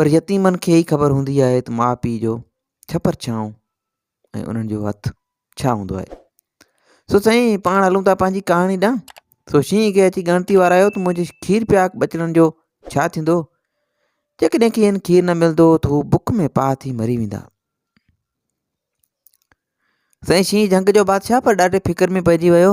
پر يتيمن کي ئي خبر هوندي آهي ته ماء پيء جو ڇپر ڇانو ۽ انهن جو هٿ ڇا هوندو آهي سو سائين پاڻ هلون ٿا پنهنجي ڪهاڻي ڏانهن سو شينهن کي اچي ڳڻتي وارايو ته منهنجي کير پياڪ ٻچڙن جو ڇا ٿيندو جيڪڏهن کين کير نه ملندو ته هو بک ۾ پاهه ٿي مري ويندا سائين شينهن جهنگ جو بادشاهه پر ڏاڍي فڪر ۾ پئجي ويو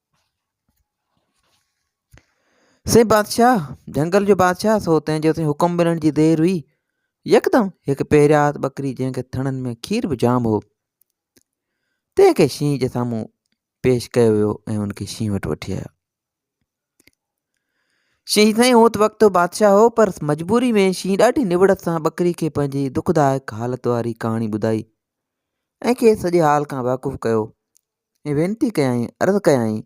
سي بادشاهه، جهنگل جو بادشاهه، سو تنهن جو سين حڪم ملڻ جي دير هئي. يڪدم هڪ پهريات ٻڪري جنهن کي ٿڻن ۾ کير به جام هو، تنهن کي شينهن جي سامهون پيش ڪيو ويو ۽ ان کي شينهن وٽ وٺي آيو. شينهن سائين هو ته وقت بادشاهه هو پر مجبوري ۾ شينهن ڏاڍي نوڙت سان ٻڪري کي پنهنجي دکدائڪ حالت واري ڪهاڻي ٻڌائي ۽ کيس سڄي حال کان واقف ڪيو. ۽ وينتي ڪيائين عرض ڪيائين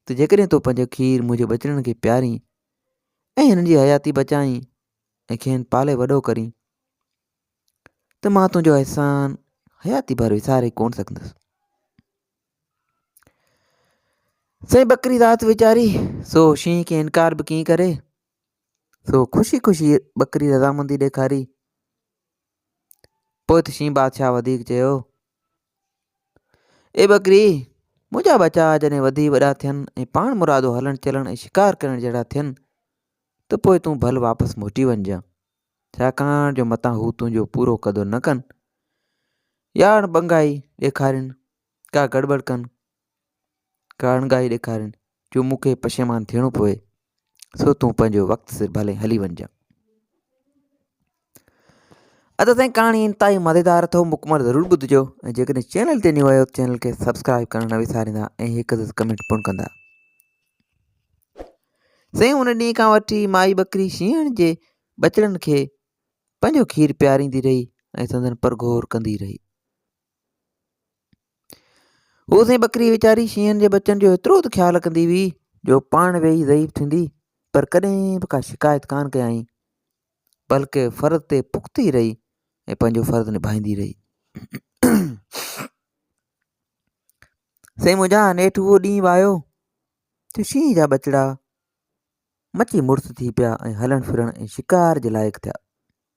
ته جيڪڏهن تو پنهنجو کير منهنجي ٻچڙن کي پيارين ۽ هنن جي حياتي بچائين ۽ کين پالي وڏو ڪرين ته مان تنهنجو احسان حياتي ڀر وساري ڪون سگھندس سائين ٻڪري ذات ويچاري سو شينهن کي انڪار به ڪيئن ڪري سو خوشي خوشي ٻڪري رضامندي ڏيکاري پوء ته شينهن بادشاهه وڌيڪ چيو، اي ٻڪري! منهنجا ٻچا جڏهن وڌي وڏا ٿين ۽ پاڻ مرادو هلڻ چلڻ ۽ شڪار ڪرڻ جهڙا ٿين ته پوء تون ڀل واپس موٽي وڃجان، ڇاڪاڻ جو متان هو تنهنجو پورو قدر نه ڪن يا اڻ ٻنگائي ڏيکارين، ڪا گڙٻڙ ڪن ڪارنگاهي ڏيکارين جو مون کي پشيمان ٿيڻو پوي سو تون پنهنجو وقت سر ڀلي هلي وڃجان ادا سائين ڪهاڻي انتهائي مزيدار اٿو مڪمل ضرور ٻڌجو ۽ جيڪڏهن چينل تي نيو آيو چينل کي سبسڪرائب ڪرڻ نه وساريندا ۽ هڪ عزت ڪمنٽ پڻ ڪندا سائين ان ڏينهن کان وٺي مائي ٻڪري شينهن جي ٻچڙن کي پنهنجو کير پياريندي رهي ۽ سندن پرگهور ڪندي رهي هو سائين ٻڪري ويچاري شينهن جي ٻچن جو ايترو ته خيال رکندي هئي جو پاڻ ويهي ضعيف ٿيندي پر ڪڏهن به ڪا شڪايت ڪانه ڪيائين بلڪه فرض تي پختي رهي ۽ پنهنجو فرض نڀائيندي رهي سائين منهنجا نيٺ اهو ڏينهن به آيو جو شينهن جا ٻچڙا مچي مڙس ٿي پيا ۽ هلڻ ڦرڻ ۽ شڪار جي لائق ٿيا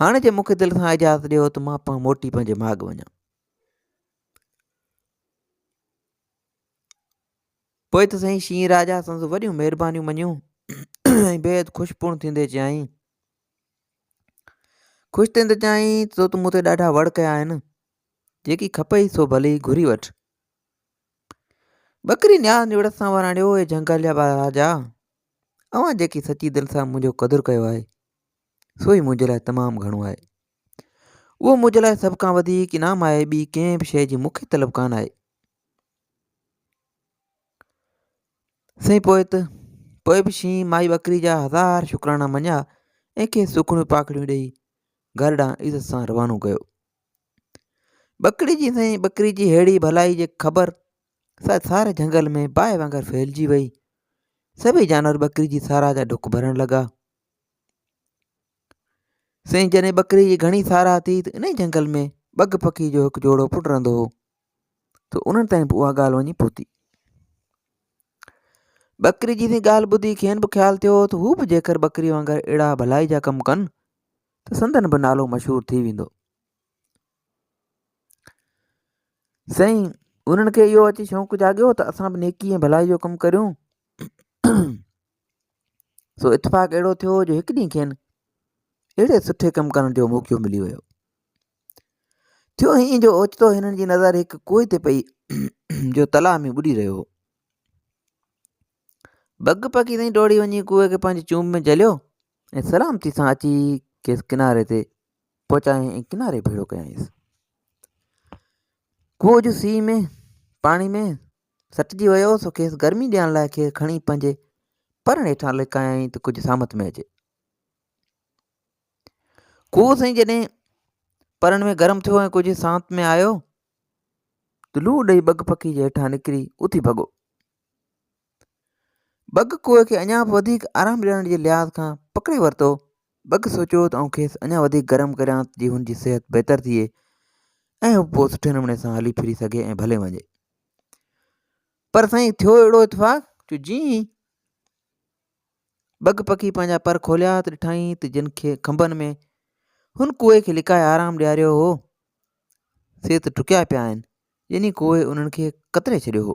هاڻي جي مون کي دل سان اجازت ڏيو ته مان پنهون موٽي پنهنجي ماڳ وڃان پوء ته سائين شينهن راجا سندس وڏيون مهربانيون مڃيون ۽ بيحد خوش پڻ ٿيندي چيائين خوش ٿيندي چيائين تو ته مون تي ڏاڍا وڙ ڪيا آهن جيڪي کپئي سو ڀلي گهري وٺ ٻڪري نياز نوڙت سان وراڻيو اي جهنگل جا راجا اوهان جيڪي سچي دل سان منهنجو قدر ڪيو آهي سو ئي منهنجي لاء تمام گهڻو آهي اهو منهنجي لاء سڀ کان وڌيڪ انعام آهي ٻي ڪنهن به شيء جي مون کي طلب ڪانه آهي سائين پوء ته پوء به شينهن مائي ٻڪري جا هزار شڪرانا مڃيا ۽ کيس سکڻيون پاکڙيون ڏيئي گهر ڏانهن عزت سان روانو ڪيو ٻڪري جي سائين ٻڪري جي ههڙي ڀلائي جي خبر سا سار جهنگل ۾ باهه وانگر ڦهلجي وئي. سڀئي جانور ٻڪري جي ساراهه جا ڊک ڀرڻ لڳا. سائين جڏهن ٻڪري جي گهڻي ساراهه ٿي ته انهي جهنگل ۾ ٻگهه پکي جو هڪ جوڙو پڻ رهندو هو ته انهن تائين به اها ڳالهه وڃي پهتي. ٻڪري جي سائين ڳالهه ٻڌي کين به خيال ٿيو ته هو به جيڪر ٻڪري وانگر اهڙا ڀلائي جا ڪم ڪن ته سندن به نالو مشهور ٿي ويندو. سائين انهن کي اهو اچي شوق جاڳيو ته اسان به نيڪي ۽ ڀلائي جو ڪم ڪريون سو اتفاق اهڙو ٿيو جو هڪ ڏينهن کين اهڙي سٺي ڪم ڪرڻ جو موقعو ملي ويو ٿيو ائين جو اوچتو هنن جي نظر هڪ کوهه تي پئي جو تلاء ۾ ٻڏي رهيو هو بگ پکي تائين ڊوڙي وڃي ڪوئي کي پنهنجي چونب ۾ جهليو ۽ سلامتي سان اچي کيس ڪناري تي پهچايائين ۽ ڪناري ڀيڙو ڪيائينس ڪوئ جو سي ۾ پاڻي ۾ سٽجي ويو سو کيس گرمي ڏيڻ لاء کيس کڻي پنهنجي پرڻ هيٺان لڪايائين ته ڪجهه سامت ۾ اچي ڪوئ سائين جڏهن پرڻ ۾ گرم ٿيو ۽ ڪجهه سانت ۾ آيو ته لوء ڏئي بگ پکي جي هيٺان نڪري اٿي ڀڳو ٻگ ڪوئي کي اڃا به وڌيڪ آرام ڏيارڻ جي لحاظ کان پڪڙي ورتو. ٻگ سوچيو ته آئون کيس اڃا وڌيڪ گرم ڪريان ته جيئن هن جي صحت بهتر ٿئي ۽ هو پوء سٺي نموني سان هلي ڦري سگهي ۽ ڀلي وڃي. پر سائين ٿيو اهڙو اتفاق جو جيئن ئي ٻگ پکي پنهنجا پر کوليا ته ڏٺائين ته جن کي کنڀن ۾ هن ڪوئي کي لڪائي آرام ڏياريو هو سي ته ٽڪيا پيا آهن يعني ڪوئي انهن کي ڪتري ڇڏيو هو.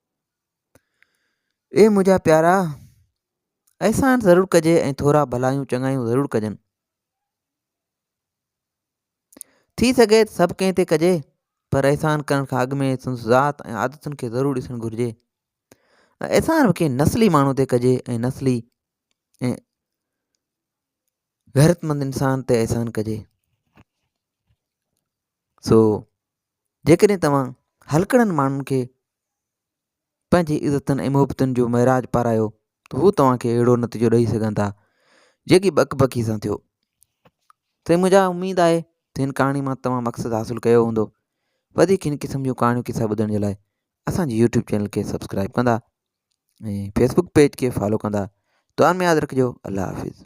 اي منهنجا پيارا احسان ضرور ڪجي ۽ ٿورا ڀلايون چڱايون ضرور ڪجن ٿي سگهي سڀ ڪنهن تي ڪجي پر احسان ڪرڻ کان اڳ ۾ سندس ذات ۽ عادتن کي ضرور ڏسڻ گهرجي احسان به ڪنهن نسلي ماڻهو تي ڪجي ۽ نسلي ۽ غيرتمند انسان تي احسان ڪجي سو جيڪڏهن توهان هلڪڙن ماڻهن کي پنهنجي عزتن ۽ محبتن جو معراج پارايو ته هو توهان کي اهڙو نتيجو ڏئي سگهن ٿا جيڪي بڪ بڪي سان ٿيو سائين منهنجا اميد آهي ته هن ڪهاڻي مان توهان مقصد حاصل ڪيو هوندو وڌيڪ هن قسم جون ڪهاڻيون قصا ٻڌڻ جي لاء اسانجي يوٽيوب چينل کي سبسڪرائب ڪندا ۽ فيسبوڪ پيج کي فالو ڪندا دعا ۾ ياد رکجو الله حافظ